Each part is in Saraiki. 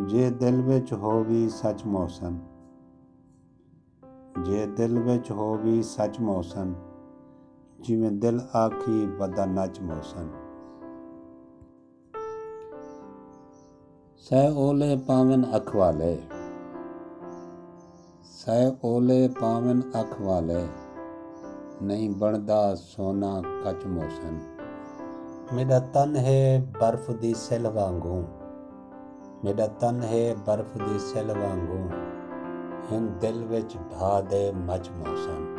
جے دل وچ ہووی سچ محسن۔ جے دل وچ ہووی سچ محسن۔ جیویں دل آکھی ودا نچ محسن۔ سہ اولے پاون اکھ والے۔ سئے اولے پاون اکھ والے۔ نئیں بنڑدا سونا کچ موسن۔ میڈا تن ہے برف دی سلھ وانگوں۔ میڈا تن ہے برف دی سلھ وانگوں۔ ہن دل وچ بھا دے مچ موسن۔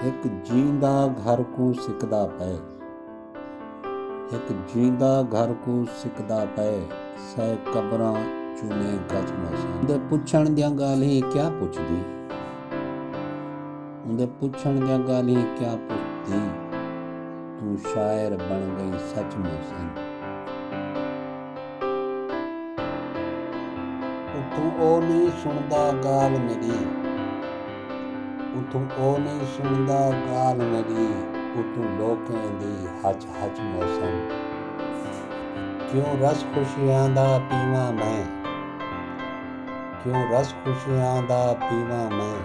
ہک جیندا گھر کوں سکدا پئے۔ ہک جیندا گھر کوں سکدا پئے۔ سئے قبراں چومے گچھ موساں دے۔ پچھݨ دیاں ڳالھیں کیا پچھدی۔ اوندے پچھݨ دیاں ڳالھیں کیا پچھدی۔ توں شاعر بݨ ڳئی سچ موساں دے۔ اتھوں او نئیں سݨدا ڳالھ میݙی۔ اتھوں او نئیں سݨدا ڳالھ میݙی اتھوں لوکیں دی ہچ ہچ موسم کیوں رس خوشیاں دا پیواں میں کیوں رس خوشیاں دا پیواں میں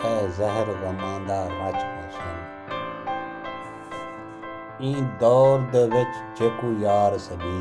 اے زہر غماں دا رچ موسم ایں دور دے وچ جیکوں یار سݙی